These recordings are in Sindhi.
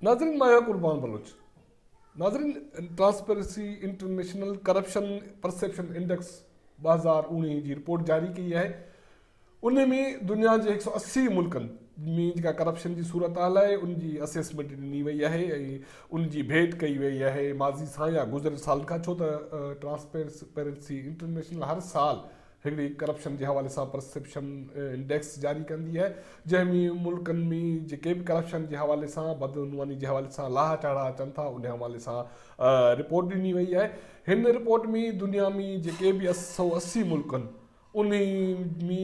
ناظرين مان آهيان قربان بلوچ ناظرين transparency international corruption perception index ٻه هزار اوڻيهه جي رپورٽ جاري ڪئي آهي ان ۾ دنيا جي هڪ سؤ اسي ملڪن ۾ جيڪا ڪرپشن جي صورتحال آهي ان جي اسيسمينٽ ڏني وئي آهي ۽ ان جي ڀيٽ ڪئي وئي آهي ماضي سان يا گذريل سالن کان ڇو ته ٽرانسپيرنسي انٽرنيشنل هر سال هڪڙي ڪرپشن جي حوالي سان پرسيپشن انڊيڪس جاري ڪندي آهي جنهن ۾ ملڪن ۾ جيڪي به ڪرپشن جي حوالي سان بدعنواني جي حوالي سان لاها چاڙها اچن ٿا ان حوالي سان رپورٽ ڏني وئي آهي هن رپورٽ ۾ دنيا ۾ جيڪي به سؤ اسي ملڪن انهيء ۾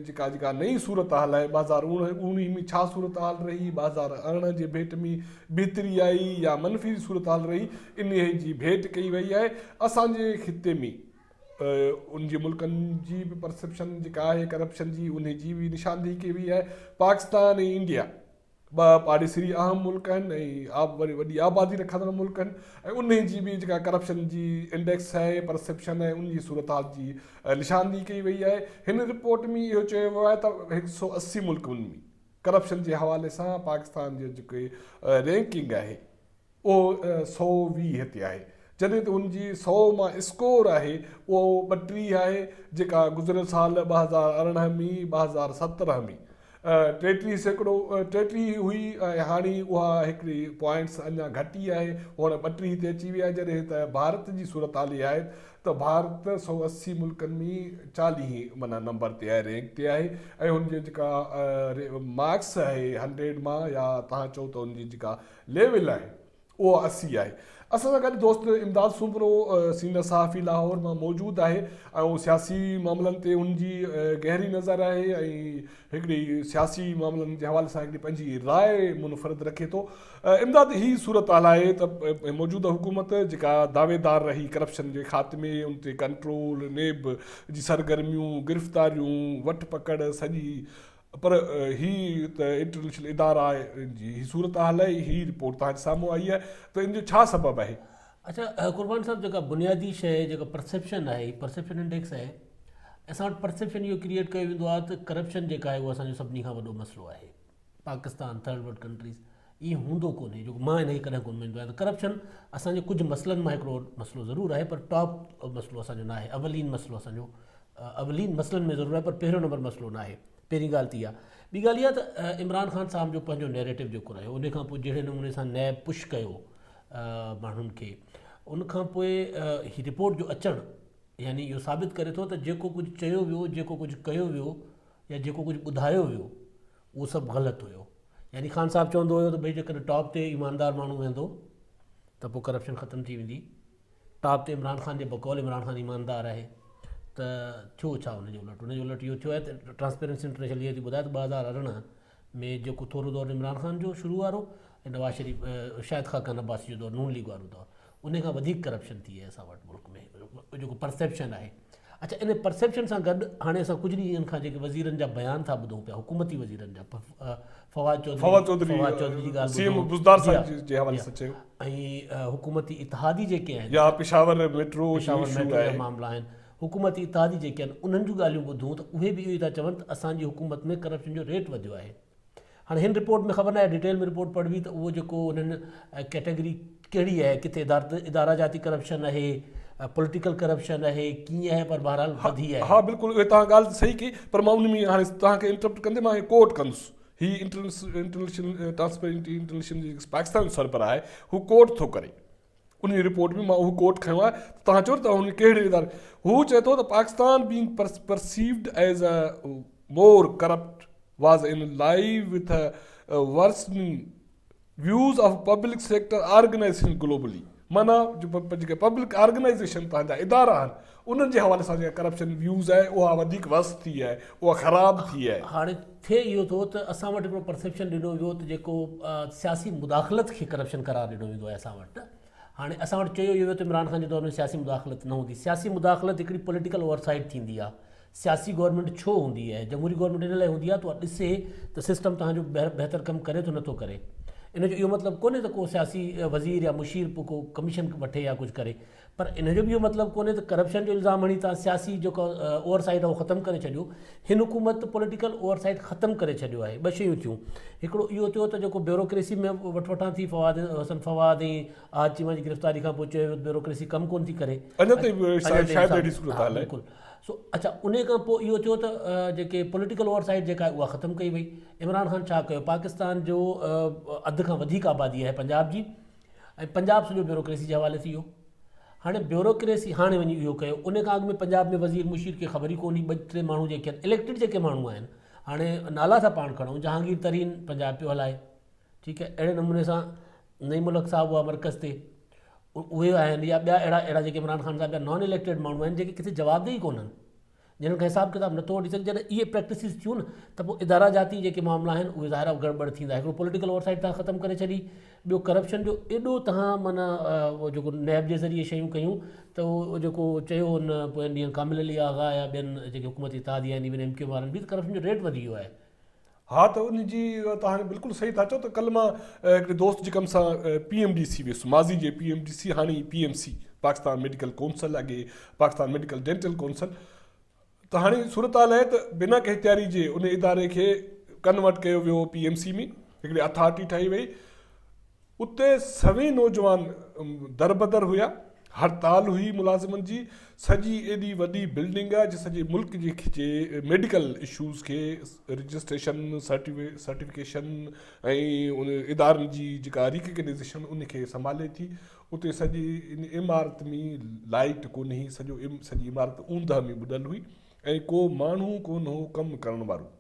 جيڪا جيڪا نئين صورتحال آهي ٻهزار اوڻيهه ۾ ڇا صورتحال رهي، ٻهزار ارڙهن جي ڀيٽ ۾ بهتري آئي يا منفي صورتحال رهي، انهيء جي ڀيٽ ڪئي وئي آهي. اسان جي خطي ۾ ان جي ملڪن جي به پرسيپشن جيڪا آهي ڪرپشن جي انهيء جي به نشاندهي ڪئي وئي آهي. پاڪستان ۽ انڊيا. ٻه پاڙيسري اهم ملڪ آهن ۽ وري وڏي آبادي رکندڙ ملڪ آهن ۽ انهي جي به جيڪا ڪرپشن جي انڊيڪس آهي پرسيپشن آهي ان جي صورتحال جي نشاندهي ڪئي وئي آهي هن رپورٽ ۾ اهو چيو ويو آهي ته هڪ سؤ اسي ملڪن ۾ ڪرپشن جي حوالي سان پاڪستان جي جيڪي رينڪنگ آهي اهو سؤ ويهه تي آهي، جڏهن ته ان جي سؤ مان اسڪور آهي، اهو ٻٽيهه آهي، جيڪا گذريل سال ٻه هزار ارڙهن مي ٻه هزار سترهن مي ٽيٽيهه سيڪڙو ٽيٽيهه هئي ۽ هاڻي اها هڪڙي پوائنٽس اڃا گهٽي آهي، هونئن ٻٽيهه تي اچي وئي آهي، جڏهن ته ڀارت جي صورتحال اها آهي ته ڀارت سؤ اسي ملڪن مي چاليهين معنيٰ نمبر تي آهي، رينڪ تي آهي ۽ ان جي جيڪا مارڪس آهي هنڊريڊ مان يا توهان چئو ته ان جي جيڪا ليول آهي اهو اسي آهي. اسان سان گڏ دوست امداد سومرو سينئر صحافي لاهور مان موجود آهي ۽ سياسي معاملن تي هن جي گهري نظر آهي ۽ هڪڙي سياسي معاملن جي حوالي سان هڪڙي پنهنجي راء منفرد رکي ٿو امداد هي صورتحال آهي ته موجوده حڪومت جيڪا دعويدار رهي ڪرپشن جي خاتمي ان تي ڪنٽرول نيب جي سرگرميون گرفتاريون وٺ پڪڙ سڄي پر هي ته انٽرنيشنل ادارا جي هي صورتحال آهي، هي رپورٽ توهان جي سامهون آئي آهي ته ان جو ڇا سبب آهي؟ اڇا قربان صاحب جيڪا بنيادي شيء جيڪا پرسيپشن آهي هي پرسيپشن انڊيڪس آهي اسان وٽ پرسيپشن اهو ڪريئيٽ ڪيو ويندو آهي ته ڪرپشن جيڪا آهي اهو اسان جو سڀني کان وڏو مسئلو آهي پاڪستان ٿرڊ ورلڊ ڪنٽريز ائين هوندو ڪونهي جو مان هن کي ڪڏهن ڪونه مڃندو آهيان ته ڪرپشن اسان جي ڪجهه مسئلن مان هڪڙو مسئلو ضرور آهي پر ٽاپ مسئلو اسان جو ناهي اولين مسئلو اسان جو اولين مسئلن ۾ ضرور آهي پر پهريون نمبر مسئلو نه آهي پهرين ڳالهه ته اها ٻي ڳالهه اها ته عمران خان صاحب جو پنهنجو نيريٽو جيڪو رهيو ان کان پوء جهڙي نموني سان نيب پش ڪيو ماڻهن کي ان کان پوء هي رپورٽ جو اچڻ يعني اهو ثابت ڪري ٿو ته جيڪو ڪجهه چيو ويو جيڪو ڪجهه ڪيو ويو يا جيڪو ڪجهه ٻڌايو ويو اهو سڀ غلط هيو يعني خان صاحب چوندو هيو ته ڀئي جيڪڏهن ٽاپ تي ايماندار ماڻهو ويندو ته پوء ڪرپشن ختم ٿي ويندي ٽاپ تي عمران خان جي بقول عمران خان ايماندار آهي ته ٿيو ڇا ان جي الٽ ان جي الٽ اهو ٿيو آهي ته ٽرانسپيرنسي انٽرنيشنل اهو ٿي ٻڌائي ته ٻه هزار ارڙهن ۾ جيڪو ٿورو دور عمران خان جو شروع وارو ۽ نواز شريف شاهد خاقان عباسي جو دور نون ليگ وارو دور ان کان وڌيڪ ڪرپشن ٿي آهي اسان وٽ ملڪ ۾ جيڪو پرسيپشن آهي اچا ان پرسيپشن سان گڏ هاڻي اسان ڪجهه ڏينهن کان جيڪي وزيرن جا بيان ٿا ٻڌون پيا حڪومتي وزيرن جا فواد چوڌري فواد چوڌري فواد چوڌري جي ڳالهه سي ايم بزدار صاحب جي جي حوالي سان چيو ۽ حڪومتي اتحادي جيڪي آهن يا پشاور ميٽرو پشاور ميٽرو جا معاملا آهن حڪومتي اتحادي جيڪي آهن انهن جون ڳالهيون ٻڌون ته اهي به اهو ئي ٿا چون ته اسان جي حڪومت ۾ ڪرپشن جو ريٽ وڌيو آهي هاڻي هن رپورٽ ۾ خبر ناهي ڊيٽيل ۾ رپورٽ پڙهبي ته اهو جيڪو انهن ڪيٽيگري ڪهڙي آهي ڪٿي اداره جاتي ڪرپشن آهي پوليٽيڪل ڪرپشن آهي ڪيئن آهي پر بهرحال وڌي آهي ها بالڪل اهي تان ڳالهه صحيح ڪي پر مان ان ۾ هاڻي تان کي انٽرپٽ ڪندي مان ڪوٽ ڪندس هي انٽرنيشنل ٽرانسپيرنٽي انٽرنيشنل جي پاڪستان جو سربراهه آهي هو ڪوٽ ٿو ڪري ان جي رپورٽ ۾ مان اهو ڪوٽ کنيو آهي ته توهان چئو ته توهان ان ڪهڙي اداري هو چئي ٿو ته Pakistan being perceived as a more corrupt was in line with a worsening views of public sector organization globally معنيٰ جو پبلڪ آرگنائيزيشن پنهنجا ادارا آهن انهن جي حوالي سان جيڪا ڪرپشن ويوز آهي اها وڌيڪ ورس ٿي آهي اها خراب ٿي آهي. هاڻي ٿئي اهو ٿو ته اسان وٽ هڪڙو پرسيپشن ڏنو ويو ته جيڪو سياسي مداخلت کي ڪرپشن قرار ڏنو ويندو آهي اسان وٽ هاڻي اسان وٽ چيو اهو ويو ته عمران خان جي دور ۾ سياسي مداخلت نه هوندي سياسي مداخلت هڪڙي پوليٽيڪل اوور سائيٽ ٿيندي آهي سياسي گورنمينٽ ڇو هوندي آهي جمهوري گورنمينٽ ان لاء هوندي آهي ته اها ڏسي ته سسٽم تهان جو بهتر ڪم ڪري ٿو نٿو ڪري ان جو اهو مطلب ڪونهي ته ڪو سياسي وزير يا مشير ڪو ڪميشن وٺي يا ڪجهه ڪري پر ان جو به اهو مطلب ڪونهي ته ڪرپشن جو الزام هڻي توهان سياسي جيڪا اوور سائيٽ آهي اهو ختم ڪري ڇڏيو. هن حڪومت پوليٽيڪل اوور سائيٽ ختم ڪري ڇڏيو آهي. ٻه شيون ٿيون. هڪڙو اهو ٿيو ته جيڪو بيوروڪريسي ۾ وٺ وٺان ٿي فواد حسن فواد ۽ احد چيما جي گرفتاري کان پوء چيو ويو ته بيوروڪريسي ڪم ڪونه ٿي ڪري. اڃا تائين شايد اهڙي صورت حال آهي. سو اڇا انهي کان پوء اهو ٿيو ته جيڪي پوليٽيڪل اوور سائيٽ جيڪا آهي اها ختم ڪئي وئي. عمران خان ڇا ڪيو پاڪستان جو اڌ کان وڌيڪ آبادي آهي پنجاب جي. ۽ پنجاب سڄو بيوروڪريسي جي حوالي ٿي ويو هاڻي بيوروڪريسي هاڻي وڃي اهو ڪيو ان کان اڳ ۾ پنجاب ۾ وزير مشير کي خبر ئي ڪون هئي ٻه ٽي ماڻهو جيڪي آهن اليڪٽيڊ جيڪي ماڻهو آهن هاڻي نالا ٿا پاڻ کڻو جهانگير ترين پنجاب پيو هلائي ٺيڪ آهي اهڙي نموني سان نعيم الحق صاحب هئا مرڪز تي اهي آهن يا ٻيا اهڙا اهڙا جيڪي عمران خان صاحب جا نان اليڪٽيڊ ماڻهو آهن جيڪي ڪٿي جوابده ئي ڪونهن جنھن کان حساب ڪتاب نٿو وٺي سگھجي جڏھن اھي پريڪٽسز ٿيون نھ تھ پوء ادارا جاتي جيڪي معاملا آھن اھي ظاھر آ گڙٻڙ ٿيندا ھڪڙو پوليٽيڪل اوور سائيٽ تھان ختم ڪري ڇڏي ٻيو ڪرپشن جو ايڏو تھان معنيٰ اھو جيڪو نيب جي ذريعي شيون ڪيون تھ اھو جيڪو چيو ھن پوئين ڏينھن ڪامل علي آغا يا ٻين جيڪي حڪومتي اتحاديا آھن ايون ايم ڪيو وارن بھ تھ ڪرپشن جو ريٽ وڌي ويو آھي ها ته ان جي توهان بلڪل صحيح ٿا چئو ته ڪل مان هڪڙي دوست جي ڪم سان پي ايم ڊي سي ويس ماضي جي پي ايم ڊي سي هاڻي P M C Pakistan medical council اڳي پاڪستان ميڊيڪل ڊينٽل ڪونسل ته هاڻي صورتحال آهي ته بنا ڪنهن تياري جي ان اداري کي ڪنورٽ ڪيو ويو پي ايم سي ۾ هڪڙي اٿارٽي ٺاهي وئي اتي سوين نوجوان دربدر هيا، هڙتال هئي ملازمن جي، سڄي ايڏي وڏي بلڊنگ جي سڄي ملڪ جي کچي ميڊيڪل اشوز کي رجسٽريشن، سرٽيفڪيشن ۽ ادارن جي جيڪا ريڪگنيزيشن ان کي سنڀالي ٿي، اتي سڄي ان عمارت ۾ لائيٽ ڪونهي، سڄو سڄي عمارت اوندهه ۾ ٻڏل هئي ۽ ڪو ماڻهو ڪونه هو ڪم ڪرڻ وارو.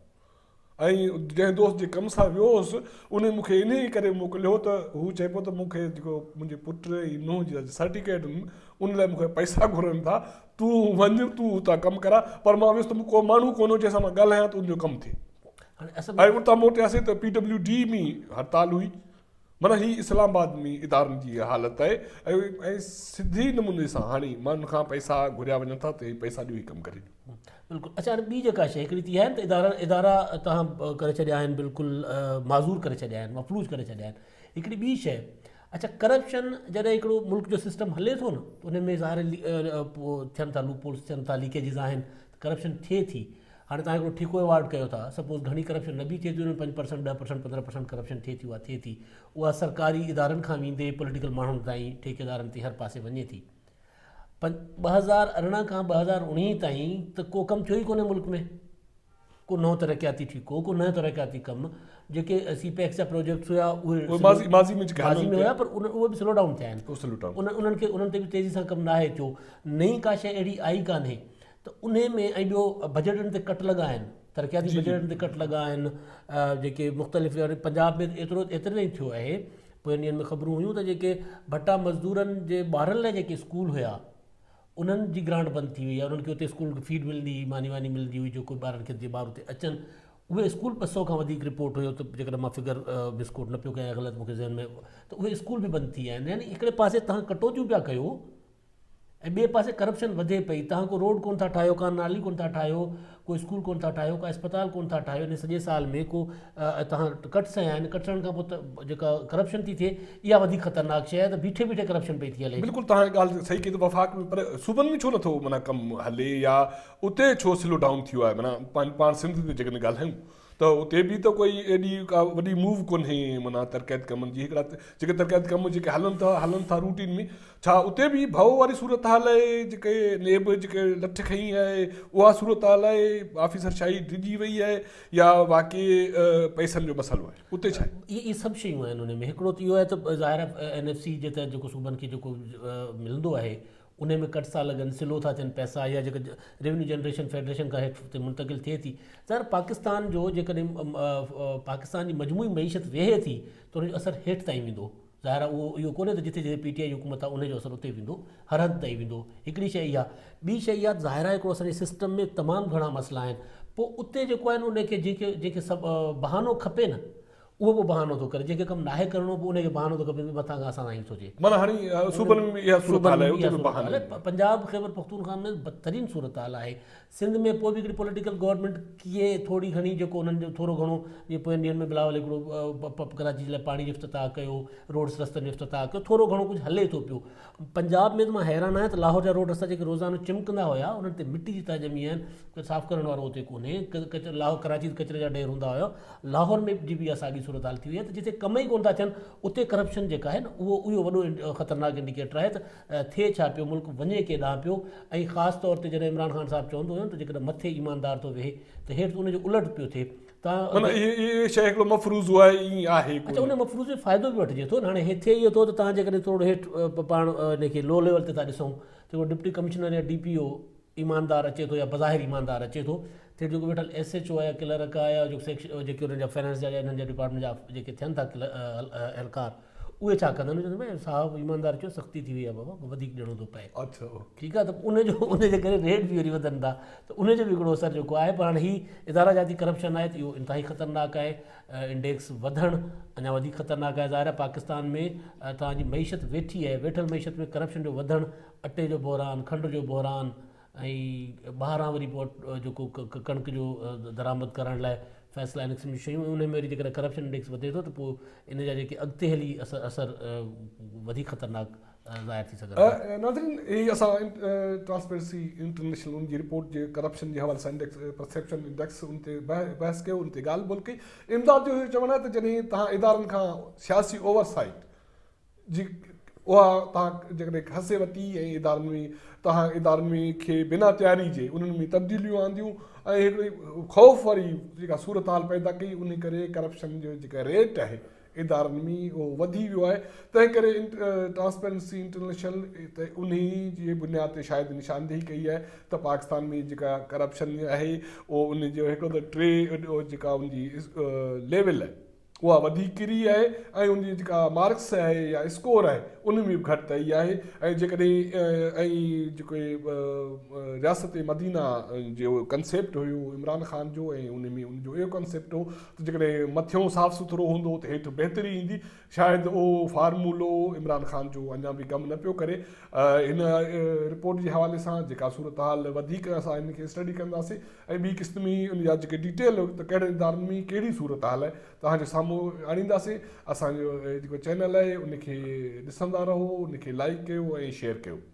۽ جنهن دوست جي ڪم سان ويو هوس، انهي مون کي انهيء ڪري موڪليو هو ته هو چئي پيو ته مون کي جيڪو منهنجي پٽ ۽ نونهن جي سرٽيڪيٽ ان ان لاء مون کان پئسا گهرن ٿا، تون وڃ، تون اتان ڪم ڪراء، پر مان ويس ته مون ڪو ماڻهو ڪونه هو جنهن سان مان ڳالهايان ته ان جو ڪم ٿئي. ۽ اتان موٽياسين ته پي ڊبليو ڊي ۾ هڙتال هئي. معنيٰ هي اسلام آباد ۾ ادارن جي اها حالت آهي ۽ سڌي نموني سان هاڻي ماڻهن کان پئسا گهريا وڃن ٿا ته هي پئسا ڏيو هي ڪم ڪري ڏيو. بلڪل اچا هاڻي ٻي جيڪا شيء هڪڙي ته اها آهي ته ادارا توهان ڪري ڇڏيا آهن بلڪل معذور ڪري ڇڏيا آهن مفلوج ڪري ڇڏيا آهن هڪڙي ٻي شيء اچا ڪرپشن جڏهن هڪڙو ملڪ جو سسٽم هلي ٿو نه ان ۾ ظاهر ٿين ٿا لوپ هولز ٿين ٿا ليڪيجز آهن ته ڪرپشن ٿئي ٿي هاڻي توهان هڪڙو ٺيڪو ايوارڊ ڪيو ٿا سپوز گهڻي ڪرپشن نه به ٿئي ٿي ان ۾ پنج پرسنٽ ڏهه پرسنٽ پندرهن پرسنٽ ڪرپشن ٿئي ٿي اها ٿئي ٿي اها سرڪاري ادارن کان ويندي پوليٽيڪل ماڻهن تائين ٺيڪيدارن تي هر پاسي وڃي ٿي پنج ٻه هزار ارڙهن کان ٻه هزار اوڻيهين تائين ته ڪو ڪم ٿيو ئي ڪونهي ملڪ ۾ ڪو نئون ترقياتي ٺيڪو ڪو نئون ترقياتي ڪم جيڪي سي پيڪس جا پروجيڪٽس هيا اهي ماضي ماضي ۾ جيڪي ماضي ۾ هيا پر ان اهي به سلو ڊائون ٿيا آهن انهن کي انهن تي به تيزي سان ڪم ناهي ٿيو نئين ڪا شيء اهڙي آئي ڪانهي ته انهي ۾ ۽ ٻيو بجيٽن تي ڪٽ لڳا آهن ترقياتي بجيٽن تي ڪٽ لڳا آهن جيڪي مختلف پنجاب ۾ ايترو ايتري تائين ٿيو آهي پوين ڏينهن ۾ خبرون هيون ته جيڪي ڀٽا مزدورن جي ٻارن لاء جيڪي اسڪول هيا انهن جي گرانٽ بند ٿي وئي آهي انهن کي اتي اسڪول کي فيڊ ملندي هئي ماني واني ملندي هئي جيڪو ٻارن کي جي ٻار اتي اچن اهي اسڪول ٻه سو کان وڌيڪ رپورٽ هيو ته جيڪڏهن مان فگر مسڪوٽ نه پيو ڪيان غلط مون کي ذهن ۾ ته اهي اسڪول به بند ٿي ويا آهن يعني هڪڙي پاسي تهان ڪٽوتيون پيا ڪيو ۽ ٻئي پاسي ڪرپشن وڌي پئي توهان ڪو روڊ ڪون ٿا ٺاهيو ڪا نالي ڪون ٿا ٺاهيو ڪو اسڪول ڪون ٿا ٺاهيو ڪا اسپتال ڪون ٿا ٺاهيو ان سڄي سال ۾ ڪو توهان ڪٽس هنيا آهن ڪٽس هڻڻ کان پوء ته جيڪا ڪرپشن ٿي ٿئي اها وڌيڪ خطرناڪ شيء آهي ته بيٺي بيٺي ڪرپشن پئي ٿي هلي بلڪل توهان جي ڳالهه صحيح ڪئي ته وفاق ۾ پر صوبن ۾ ڇو نه ٿو معنيٰ ڪم هلي يا اتي ڇو سلو ڊائون ٿيو آهي معنيٰ پاڻ سنڌ جي جيڪڏهن ڳالهايون ته اتي به ته ڪوئي ايڏي ڪا وڏي موو ڪونهي معنيٰ ترقياتي ڪمن جي هڪڙا جيڪي ترقياتي ڪم جيڪي هلن ٿا هلن ٿا روٽين ۾ ڇا اتي به هي ڀؤ واري صورتحال آهي جيڪي نيب جيڪي لٺ کنئي آهي اها صورتحال آهي آفيسر شاهي ڊڄي وئي آهي يا واقعي پئسن جو مسئلو آهي اتي ڇا آهي. اهي سڀ شيون آهن ان ۾ هڪڙو ته اهو آهي ته ظاهر آهي اين ايف سي جي تحت جيڪو صوبن کي جيڪو ملندو آهي انهي ۾ ڪٽ ٿا لڳن سلو ٿا ٿين پئسا يا جيڪا ريونيو جنريشن فيڊريشن کان هيٺ تي منتقل ٿئي ٿي ظاهر پاڪستان جو جيڪڏهن پاڪستان جي مجموعي معيشت ويهي ٿي ته ان جو اثر هيٺ تائين ويندو ظاهر اهو اهو ڪونهي ته جتي جتي پي ٽي آئي حڪومت آهي ان جو اثر اتي ويندو هر حد تائين ويندو هڪڙي شيء اها ٻي شيء اها ظاهر آهي هڪڙو اسان جي سسٽم ۾ تمام گهڻا مسئلا آهن پوء اتي جيڪو آهي نه ان کي جنهن کي جنهن کي سڀ بهانو کپي نه اهو به بهانو ٿو ڪري، جيڪي ڪم ناهي ڪرڻو پوء ان کي بهانو ٿو ڪري ڀي مٿان کان اسان سان ائين ٿو ٿئي. معنيٰ هاڻي صوبن ۾ به اها صورتحال آهي اتي به بهانو آهي. پنجاب خيبر پختونخوا ۾ بدترين صورتحال آهي. سنڌ ۾ پوء به هڪڙي پوليٽيڪل گورنمينٽ ڪيئي ٿوري گهڻي جيڪو انهن جو ٿورو گهڻو جيئن پوين ڏينهن ۾ بلاول هڪڙو پ پ ڪراچي جي لاء پاڻي جو افتتاح ڪيو، روڊس رستن جو افتتاح ڪيو، ٿورو گهڻو ڪجهه هلي ٿو پيو. پنجاب ۾ ته مان حيران آهيان ته لاهور جا روڊ رستا جيڪي روزانو چمڪندا هيا انهن تي مٽي جي تهه ڄمي آهن ڪو صاف ڪرڻ وارو اتي ڪونهي ڪچرو لاهور ڪراچي ته ڪچري جا ڍير هوندا هيا لاهور ۾ جي به اها ساڳي صورتحال ٿي وئي آهي ته جتي ڪم ئي ڪونه ٿا ٿين اتي ڪرپشن جيڪا آهي نه اهو اهو وڏو خطرناڪ انڊيڪيٽر آهي ته ٿئي ڇا پيو ملڪ وڃي ڪي ڏانهن پيو ۽ خاص طور تي جڏهن عمران خان صاحب چوندو هيو نه ته جيڪڏهن مٿي ايماندار ٿو ويهي ته هيٺ ان جو الٽ پيو ٿئي معنيٰ اهي شيء هڪڙو مفروضو آهي ائين آهي ڪو نه. اچا ان مفروضي جو فائدو به وٺجي ٿو نه هاڻي هي ٿئي اهو ٿو ته تهان جيڪڏهن ٿورڙو هيٺ پاڻ ان کي لو ليول تي ٿا ڏسون ته هڪڙو ڊپٽي ڪمشنر يا ڊي پي او ايماندار اچي ٿو يا بظاهر ايماندار اچي ٿو ته هيٺ جيڪو ويٺل ايس ايڇ او آهي يا ڪلرڪ آهي يا جيڪي انهن جا فنانس جا يا انهن جا ڊپارٽمينٽ جا جيڪي ٿين ٿا اهلڪار اهي ڇا ڪندا؟ چيو ته صاحب ايماندار چيو سختي ٿي وئي آهي بابا وڌيڪ ڏيڻو ٿو پئي ٺيڪ آهي ته ان جو ان جي ڪري ريٽ به وري وڌن ٿا ته ان جو به هڪڙو اثر جيڪو آهي پر هاڻي هي ادارا جاتي ڪرپشن آهي ته اهو انتهائي خطرناڪ آهي انڊيڪس وڌڻ اڃا وڌيڪ خطرناڪ آهي ظاهر آهي پاڪستان ۾ توهان جي معيشت ويٺي آهي ويٺل معيشت ۾ ڪرپشن جو وڌڻ اٽي جو بحران کنڊ جو بحران ۽ ٻاهران وري پوء جيڪو ڪڻڪ جو درآمد ڪرڻ لاء فيصلا ان قسم جون شيون ۽ انهي ۾ وري جيڪڏهن ڪرپشن انڊيڪس وڌي ٿو ته پوء ان جا جيڪي اڳتي هلي اثر وڌيڪ خطرناڪ ظاهر ٿي سگهن ٿا. ناظرين هي اسان ٽرانسپيرنسي انٽرنيشنل ان جي رپورٽ جي ڪرپشن جي حوالي سان پرسيپشن انڊيڪس ان تي بحث ڪيو ان تي ڳالهه ٻولهه ڪئي. امداد جو اهو چوڻ آهي ته جڏهن توهان ادارن کان سياسي اوور سائيٽ جي اها توهان جيڪڏهن کسي وتي ۽ ادارن ۾ توهان ادارن ۾ کي بنا تياري جي انهن ۾ تبديليون آنديون ۽ هڪڙي خوف واري جيڪا صورتحال پيدا ڪئي ان ڪري ڪرپشن جو جيڪا ريٽ آهي ادارن ۾ اهو وڌي ويو آهي تنهن ڪري ٽرانسپيرنسي انٽرنيشنل تي انهي جي بنياد تي شايد نشاندهي ڪئي آهي ته پاڪستان ۾ جيڪا ڪرپشن آهي اهو ان جو هڪڙو ته ٽي جيڪا ان جي ليول آهي اها وڌيڪ ڪري آهي ۽ ان جي جيڪا مارڪس آهي يا اسڪور آهي ان ۾ به گهٽتائي آهي ۽ جيڪڏهن ۽ جيڪو رياست مدينه جو ڪنسيپٽ هيو عمران خان جو ۽ ان ۾ ان جو اهو ڪنسيپٽ هو ته جيڪڏهن مٿيون صاف سٿرو هوندو ته هيٺ بهتري ايندي شايد اهو فارمولو عمران خان جو اڃا به ڪم نه پيو ڪري هن رپورٽ جي حوالي سان جيڪا صورتحال وڌيڪ اسان ان کي اسٽڊي ڪنداسين ۽ ٻي قسط ۾ ان جا جيڪي ڊيٽيل ته ڪهڙن ادارن ۾ ڪهڙي صورت حال آهي توهان جي سامهون آڻينداسين اسان جو جيڪو چينل آهي ان کي ڏسندا رهو ان کي لائيڪ ڪيو ۽ شيئر ڪيو.